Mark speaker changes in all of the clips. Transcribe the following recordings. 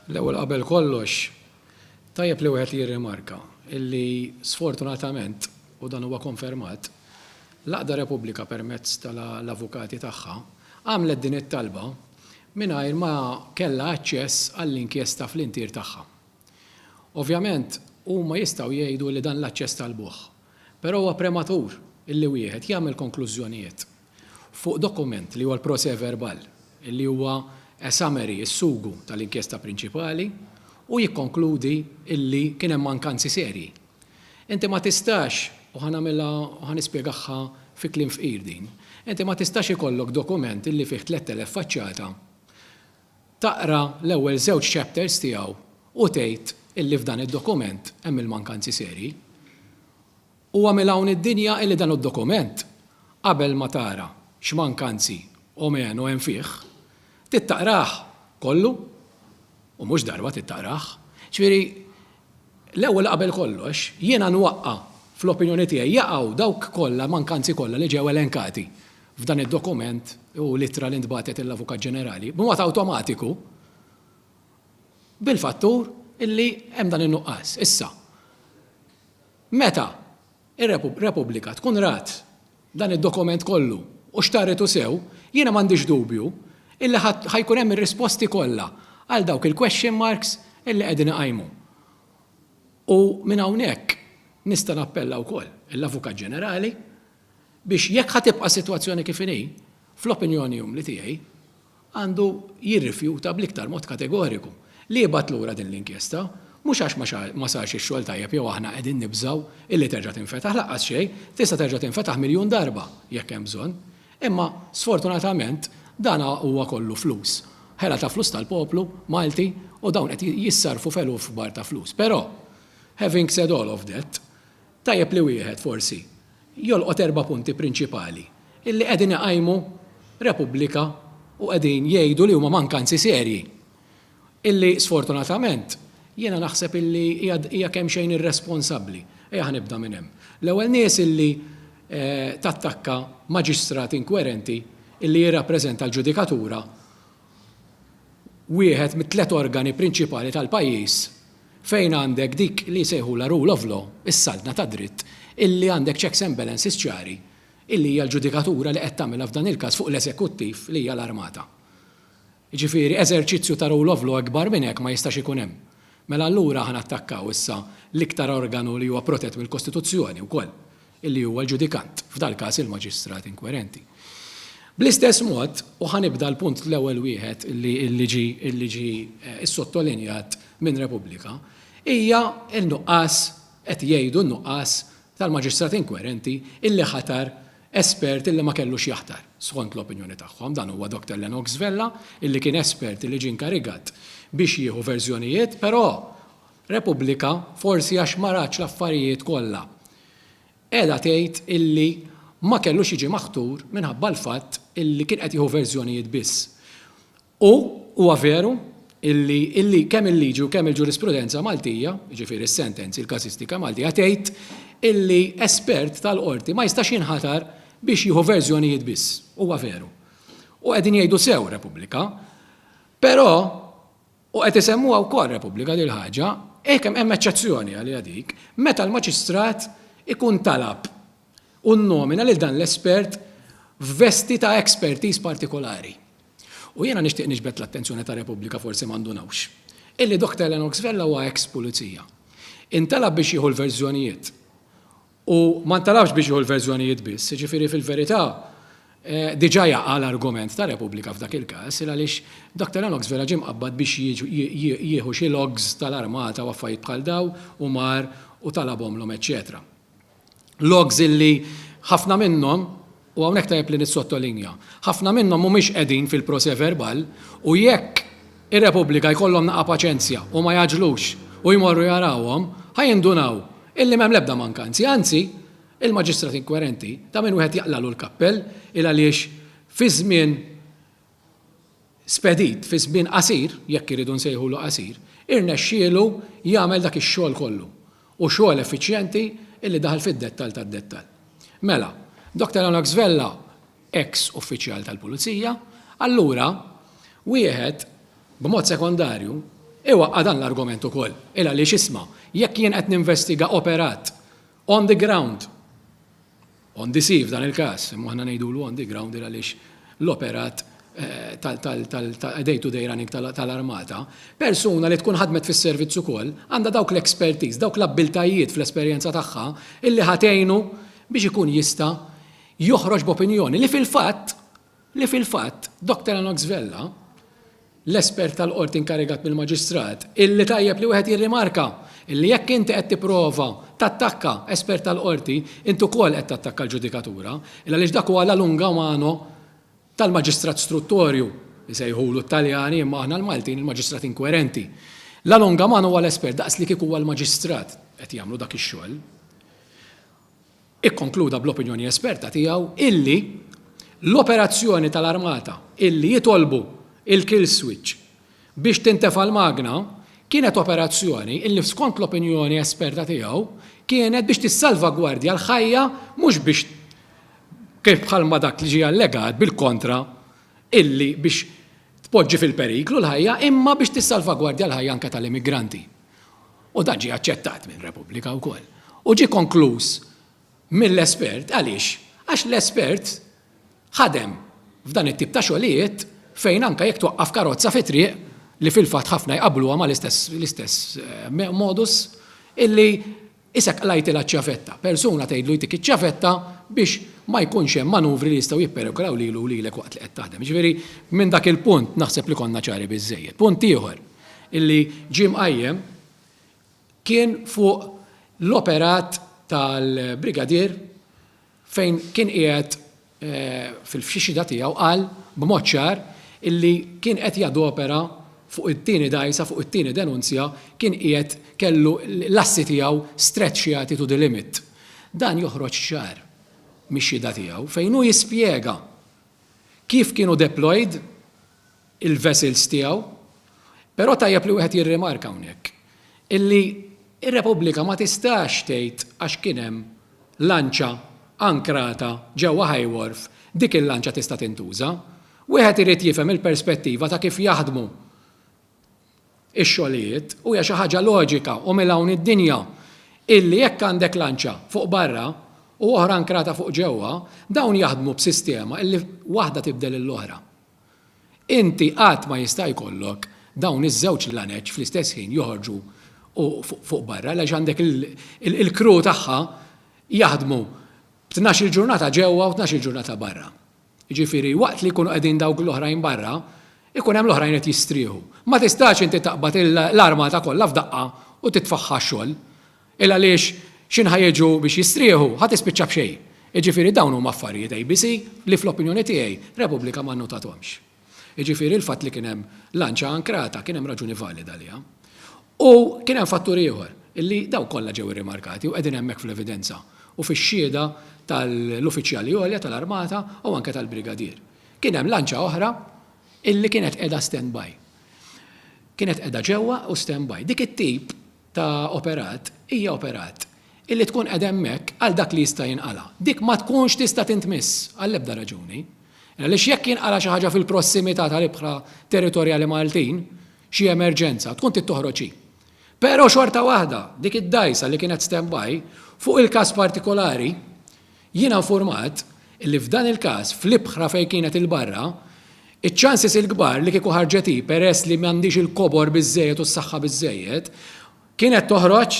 Speaker 1: L-ewwel qabel kollox, tajjeb li wieħed jirrimarka illi sfortunatament, u dan huwa konfermat, l-Għaqda Repubblika permezz ta' l-avukati tagħha, għamlet din it-talba mingħajr ma kellha aċċess għall-inkjesta fl-intier tagħha. Ovvjament, huma jistgħu jgħidu li dan l-aċċess talbuh, però huwa prematur illi wieħed jagħmel konklużjonijiet. Fuq dokument li huwa l-procès verbal, li huwa a summary, is-sugu, tal-inkjesta prinċipali, u jikkonkludi li kien hemm mankanzi serji. Inti ma tistax, u ħa nagħmilha, u ħa nispjegahha fi kliem fqir din, inti ma tistax ikollok dokument li fih tlett elef faċċata, taqra l-ewwel żewġ chapters tiegħu u tgħid li f'dan id-dokument hemm il-mankanzi serji. U għamel hawn id-dinja illi dan id-dokument, qabel ma tara x'mankanzi o menu hemm fih, trid taqrah kollu, u mhux darba trid taqrah. Ġifieri, l-ewwel qabel kollox, jiena nwaqqa' fl-opinjoni tiegħi jaqgħu dawk kollha l-mankanzi kollha li ġew elenkati f'dan id-dokument u l-ittra li ntbagħtet lill-Avukat Ġenerali, b'mod awtomatiku, bil-fattur illi hemm dan in-nuqqas. Issa. Meta r-Repubblika tkun rat dan id-dokument kollu u xtarritu sew, jiena m'għandix dubju illi ħa jkun hemm ir-risposti kollha għal dawk il-question marks illi qegħdin iqajmu. U minn hawnhekk nista' nappella wkoll lill-Avukat Ġenerali biex jekk ħa tibqa' s-sitwazzjoni kif inhi, fl-opinjoni umli tiegħi, għandu jirrifjuta bl-iktar mod kategoriku li jibgħat lura din l-inkjesta, mhux għax ma sarx ix-xogħol tajjeb jew aħna qegħdin nibżgħu illi terġa' tinfetaħ, lanqas xejn, tista' terġa' tinfetaħ miljun darba jekk hemm bżonn. Imma, sfortunatament, dan huwa kollu flus. Ħela ta' flus tal-poplu Malti u dawn qed jissarrfu f'eluf kbar ta' flus. Però, having said all of that, Tajjeb li wieħed, forsi, jolqot erba' punti prinċipali illi qegħdin iqajmu Repubblika u qegħdin jgħidu li huma mankanzi serji illi, sfortunatament, jiena naħseb illi hija hija kemxejn irresponsabbli. Ejja ħa nibda minn hemm. L-ewwel nies illi tattakka maġistrat inkwerenti illi jirrappreżenta l-ġudikatura wieħed mit-tliet organi prinċipali tal-pajjiż fejn għandek dik li jsejħulha rule of law, is-saltna tad-dritt, illi għandek checks and balances ċari, illi hija l-ġudikatura li qed tagħmilha f'dan il-każ fuq l-eżekuttiv li hija l-armata. Jiġifieri eżerċizzju ta' rule of law ikbar minn hekk ma jistax ikun hemm. Mela allura ħa nattakkaw issa l-iktar organu li huwa protett mill-Kostituzzjoni wkoll, li huwa l-ġudikant, f'dal-każ il-maġistrat inkwerenti. Bl-istess mod, u ħa nibda l-punt l-ewwel wieħed li ġie ssottolinjat minn Repubblika, hija n-nuqqas, qed jgħidu n-nuqqas tal-maġistrat inkwerenti li ħatar espert illi ma kellux jaħtar, skont l-opinjoni tagħhom, dan huwa Dr Lennox Vella, li kien espert li ġie inkarigat biex jieħu verżjonijiet, però, Repubblika, forsi għax ma ratx l-affarijiet kollha, qiegħda tgħid illi ma kellux jiġi maħtur minħabba l-fatt illi kien qed jieħu verżjonijiet biss. U huwa veru illi kemm il-liġi u kemm il-ġurisprudenza Maltija, jiġifieri s-sentenzi, il-każistika Maltija tgħid illi espert tal-Qorti ma jistax jinħatar biex jieħu verżjonijiet biss. Huwa veru. U qegħdin jgħidu sew Repubblika. Però. U qed isemmuha wkoll Repubblika din il-ħaġa, hekk hemm eċċezzjoni għaliha dik, meta l-maġistrat ikun talab u nnomina lil dan l-espert f'vesti ta' expertise partikolari. U jiena nixtieq niġbed l-attenzjoni ta' Repubblika forsi ma ndunawx, illi Doktor Lennox Vella huwa ex-Pulizija. Intalab biex jieħu l-verżjonijiet U ma ntalabx biex jieħu l-verżjonijiet biss, jiġifieri fil-verità diġà jaqa' l-argument ta' Repubblika f'dak il-każ, il għaliex Doctor Lennox vera ġie mqabbad biex jieħu xi logs tal-armata u affarijiet bħal dawn u mar u talabhomlhom eċċetera. Logs illi ħafna minnhom U hawnhekk tajjeb li nissottolinja, ħafna minnhom mhumiex qegħdin fil-procès verbal u jekk ir-Repubblika jkollhom naqa' paċenzja u ma jgħaġġlux u jmorru jarawhom, ħa jindunaw illi m'hemm l-ebda mankanzi, anzi, il-maġistrat inkwerenti ta' min wieħed jaqlagħlu l-kappell il-għaliex fi żmien spedit fi żmien qasir, jekk irridu nsejħulu qasir, irnexxielu jagħmel dak ix-xogħol kollu, u xogħol effiċjenti li daħal fid-dettall tad-dettall. Mela, Dr. Anok Svella, eks uffiċjal tal-Pulizija, allura wieħed, b'mod sekondarju, iwaqqa' dan l-argument ukoll, il-għaliex isma', jekk jien qed ninvestiga operat on the ground, On the sea f'dan il-każ, imma aħna ngħidulu on the ground għaliex l-operat tal-day-to-day running tal-armata, persuna li tkun ħadmet fis-servizz ukoll għandha dawk l-expertise, dawk l-abbiltajiet fl-esperjenza tagħha illi ħa tgħinu biex ikun jista' joħroġ b'opinjoni li fil-fatt li fil-fatt Doctor Enox Vella, l-espert tal-Qorti inkarigat mill-Maġistrat, illi tajjeb li wieħed jirrimarka illi jekk inti qed tipprova tattakka espert tal-Qorti, int ukoll qed tattakka l-ġudikatura, il-għaliex dak huwa la lunga mano tal-Maġistrat Struttorju, isejħulu t-Taljani imma aħna l-Maltin il-Maġistrat Inkwerenti. La lunga mano huwa l-espert daqs li kieku huwa l-Maġistrat qed jagħmlu dak ix-xogħol. ikkonkluda bl-opinjoni esperta tiegħu illi l-operazzjoni tal-armata illi jitolbu l-kill switch biex tintefa' l-magna kienet operazzjoni illi skont l-opinjoni esperta tiegħu kienet biex tissalvagwardja l-ħajja mhux biex kif bħalma dak li ġie allegat bil-kontra illi biex tpoġġi fil-periklu l-ħajja imma biex tissalvagwardja l-ħajja anke tal-immigranti. u dan ġie aċċettat minn Repubblika wkoll, u ġie konkluż mill-espert għaliex? Għax l-espert ħadem f'dan it-tip ta' xogħlijiet fejn anke jekk twaqqaf karozza fi triq li fil-fatt ħafna jqabbluha mal-istess eh, modus illi isek qlajtilha ċ-ċavetta. Persuna tgħidlu jtik iċ-ċavetta biex ma jkunx hemm manuvri li jistgħu jipperikolaw lilu lilek waqt li qed taħdem. Ġifieri minn dak il-punt naħseb li konna ċari biżejjed. Punt ieħor, li ġie mqajjem kien fuq l-operat tal-Brigadier fejn kien qiegħed fil-fxixita tiegħu qal b'mod ċar li kien qed jadopera fuq it-tieni dgħajsa, fuq it-tieni denunzja kien qiegħed kellu l-assi tiegħu stretchjati to the limit. Dan joħroġ ċar mix-xhieda tiegħu fejn hu jispjega kif kienu deployed, il-vessels tiegħu, però tajjeb li wieħed jirrimarka hawnhekk illi r-Repubblika ma tistax tgħid għax kien hemm lanċa ankrata ġewwa High Wharf dik il-lanċa tista' tintuża. Wieħed irid jifhem il-perspettiva ta' kif jaħdmu x-xogħlijiet u hija xi ħaġa loġika u mil-hawn id-dinja illi jekk għandek lanċa fuq barra u oħra ankrata fuq ġewwa, dawn jaħdmu b'sistema illi waħda tibdel lill-oħra. Inti qatt ma jista' jkollok dawn iż-żewġ lanec fl-istess ħin joħorġu u fuq barra għaliex għandek il-crew tagħha jaħdmu b'tnax-il ġurnata ġewwa u tnax-il ġurnata barra. Jiġifieri waqt li jkunu qegħdin dawk l-oħrajn barra, ikun hemm l-oħrajn qed jistrieħu. Ma tistax inti taqbad l-armata kollha f'daqqa u titfagħha x-xogħol. Illa għaliex x'inhu ħa jiġu biex jistrieħu, ħa tispiċċa b'xejn. Jiġifieri dawn huma affarijiet ABC li fl-opinjoni tiegħi Repubblika ma nnotatuhomx. Jiġifieri l-fatt li kien hemm lanċa ankrata kien hemm raġuni valida għaliha. U kien hemm fattur ieħor, illi dawn kollha ġew irrimarkati u qegħdin hemmhekk fl-evidenza u fix-xhieda tal-uffiċjali għolja tal-Armata u anke tal-Brigadier. Kien hemm lanċa oħra illi kienet qiegħda standby. Kienet qiegħda ġewwa u standby. Dik it-tip ta' operat hija operat illi tkun qiegħda hemmhekk għal dak li jista' jinqala'. Dik ma tkunx tista' tintmiss għall-ebda raġuni. Għaliex jekk jinqala' xi ħaġa fil-prossimità tal-ibħra territorjali Maltin, xi emerġenza, tkun trid toħroġ hi. Però xorta waħda, dik id-dgħajsa li kienet standby, fuq il-każ partikolari, Jiena nfurmat li f'dan il-każ, fl-ibħra fejn kienet il-barra, iċ-chances il-kbar li kieku ħarġet hi peress li m'għandhiex il-kobor biżżejjed u s-saħħa biżżejjed, kienet toħroġ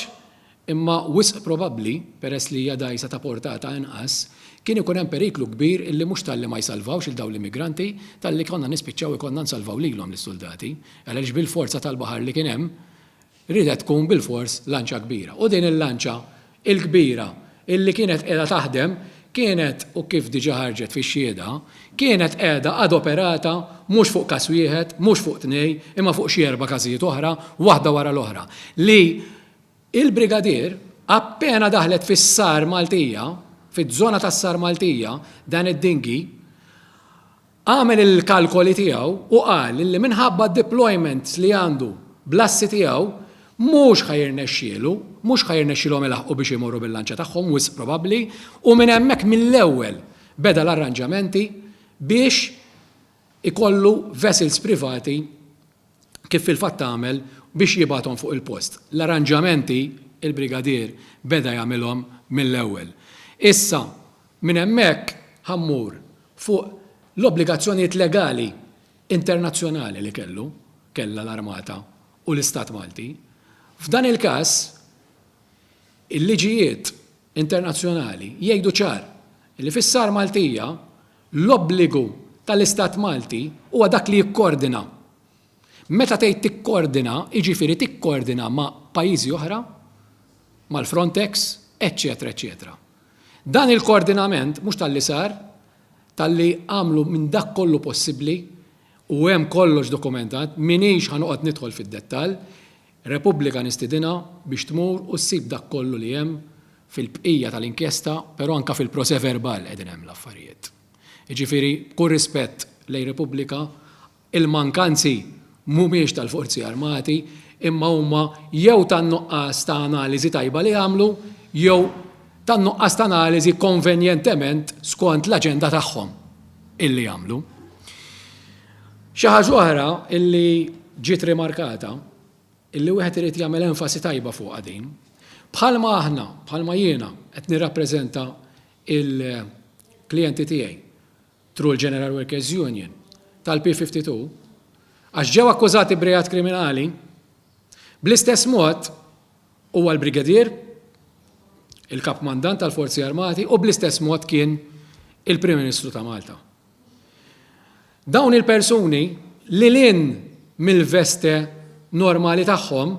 Speaker 1: imma wisq probabbli, peress li hija dgħajsa ta' portata inqas, kien ikun hemm periklu kbir illi mhux talli ma jsalvawx lil dawn l-immigranti, talli konna nispiċċaw ikollna nsalvaw lilhom lis-suldati, għaliex bil-forza tal-baħar li kien hemm, Riedet tkun bilfors lanċa kbira. U din il-lanċa l-kbira illi kienet qiegħda taħdem kienet, u kif diġà ħarġet fix-xhieda, kienet qiegħda adoperata mhux fuq każ wieħed, mhux fuq tnej, imma fuq xi erba' każijiet oħra, waħda wara l-oħra, li l-Brigadier appena daħlet fis-Sar Maltija, fiż-żona tas-Sar Maltija, dan id-dinghy, Għamel il-kalkoli tiegħu u qal li minħabba d-deployments li għandu bl-assi tiegħu mhux ħa jirnexxielu, mhux ħa jirnexxielhom ilaħħqu biex imorru bil-lanċa tagħhom wisq probabbli u minn hemmhekk mill-ewwel beda l-arranġamenti biex ikollu vessels privati kif fil-fatt għamel biex jibgħathom fuq il-post. L-arranġamenti il-Brigadier beda jagħmilhom mill-ewwel. Issa, Minn hemmhekk ħa mmur fuq l-obbligazzjonijiet legali internazzjonali li kellu, kellha l-Armata u l-Istat Malti. F'dan il-każ, il-liġijiet internazzjonali jgħidu ċar li fis-SAR Maltija l-obbligu tal-Istat Malti huwa dak li jikkoordina. Meta tgħid tikkoordina, jiġifieri tikkoordina ma' pajjiżi oħra, mal-Frontex, eċċetera eċċetera. Dan il-koordinament mhux talli sar, talli għamlu minn dak kollu possibbli u hemm kollox dokumentat, m'iniex ħa noqgħod nidħol fid-dettall, Repubblika nistidinha biex tmur u ssib dak kollu li hemm fil-bqija tal-inkjesta, però anke fil-proceverbal qegħdin hemm l-affarijiet. Jiġifieri b'kull rispett lejn Repubblika, Il-mankanzi mhumiex tal-Forzi Armati imma huma jew tan-nuqqas ta' analiżi tajba li għamlu jew tan-nuqqas ta' analiżi konvenjentement skont l-aġenda tagħhom illi għamlu. Xi ħaġa oħra illi ġiet rimarkata, illi wieħed irid jagħmel enfasi tajba fuqha din, bħalma aħna, bħalma jiena qed nirrappreżenta l-klijenti tiegħi Through l-General Workers Union tal-P52 għax ġew akkużati b'reat kriminali, bl-istess mod huwa l-Brigadier, il-Kap Kmandant tal-Forzi Armati u bl-istess mod kien il-Prim Ministru ta' Malta. Dawn il-persuni li lin mill-veste normali tagħhom,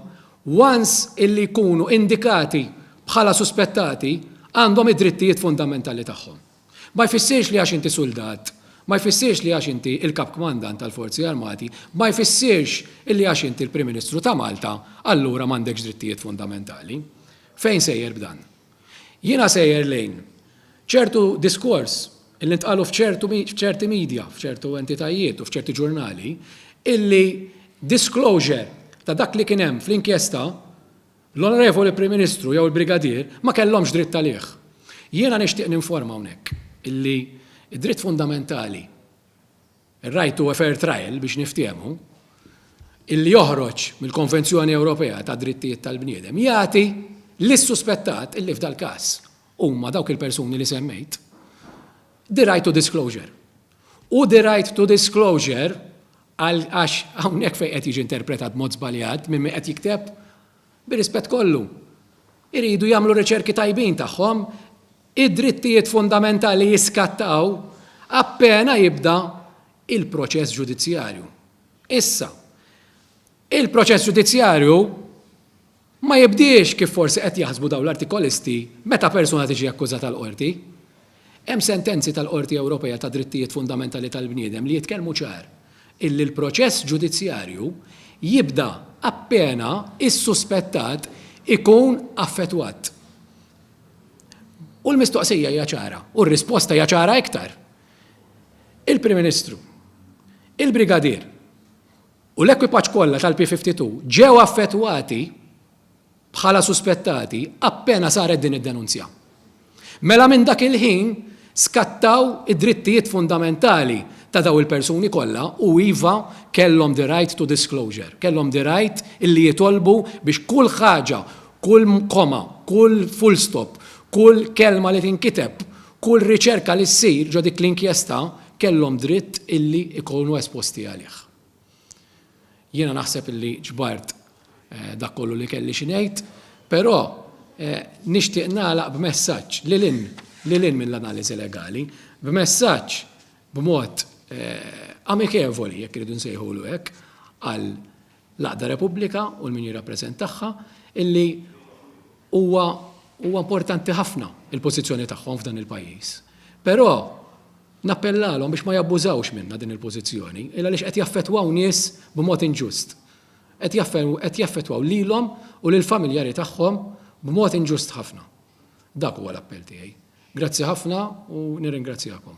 Speaker 1: once illi jkunu indikati bħala suspettati għandhom id-drittijiet fundamentali tagħhom. Ma jfissirx li għax inti suldat, ma jfissirx li għax inti il-Kap Kmandant tal-Forzi Armati, ma jfissirx illi għax inti l-Prim Ministru ta' Malta allura m'għandekx drittijiet fundamentali. Fejn sejjer b'dan? Jiena sejjer lejn ċertu diskors illi ntqalu f'ċertu f'ċerti media, f'ċertu entitajiet u f'ċerti ġurnali illi disclosure ta' dak li kien hemm fl-inkjesta L-Onorevoli Prim Ministru jew il-Brigadier ma kellhomx dritt għalih. Jiena nixtieq ninforma hawnhekk illi d-dritt fundamentali, ir-right to a fair trial biex niftiehmu, illi joħroġ mill-Konvenzjoni Ewropea tad-Drittijiet tal-Bniedem jagħti lis-suspettat, illi f'dal-każ huma dawk il-persuni li semmejt, the right to disclosure. U the right to disclosure, għax hawnhekk fejn qed jiġi interpretat b'mod żbaljat minn min qed jikteb, bir-rispett kollu, iridu jagħmlu riċerki tajbin tagħhom, id-drittijiet fundamentali jiskattaw appena jibda l-proċess ġudizzjarju. Issa, il-proċess ġudizzjarju Ma jibdiex kif forsi qed jaħsbu dawn l-Artikolisti meta persuna tiġi akkużata l-Qorti. Hemm sentenzi tal-Qorti Ewropea tad-Drittijiet Fundamentali tal-Bniedem li jitkellmu ċar illi l-proċess ġudizzjarju jibda appena s-suspettat ikun affettwat. U l-mistoqsija hija ċara u r-risposta hija ċara iktar. Il-Prim Ministru, il-Brigadier u l-ekwipaġġ kollha tal-P-52 ġew affettwati bħala suspettati appena saret din id-denunzja. Mela minn dak il-ħin skattaw id-drittijiet fundamentali ta' dawn il-persuni kollha u iva kellhom the right to disclosure, kellhom the right illi jitolbu biex kull ħaġa, kull comma, kull full stop, kull kelma li tinkiteb Kull riċerka li ssir ġo dik l-inkjesta kellhom dritt illi jkunu esposti għalih. Jiena naħseb illi ġbart dak kollu li kelli xi ngħid, però nixtieq nagħlaq b'messaġġ lil hinn lil hinn mill-analiżi legali, b'messaġġ b'mod amikevoli, jekk irridu nsejħulu hekk, għal l-għaqda Repubblika u l-min jirrappreżentagħha illi huwa huwa importanti ħafna il-pożizzjoni tagħhom f'dan il-pajjiż. Però nappellalhom biex ma jabbużawx minna din il-pożizzjoni, illa għaliex qed jaffettwaw nies b'mod inġust. Qed jaffettwaw lilhom u lil familjari tagħhom b'mod inġust ħafna. Dak huwa l-appell tiegħi. Grazzi ħafna u nirringrazzjakom.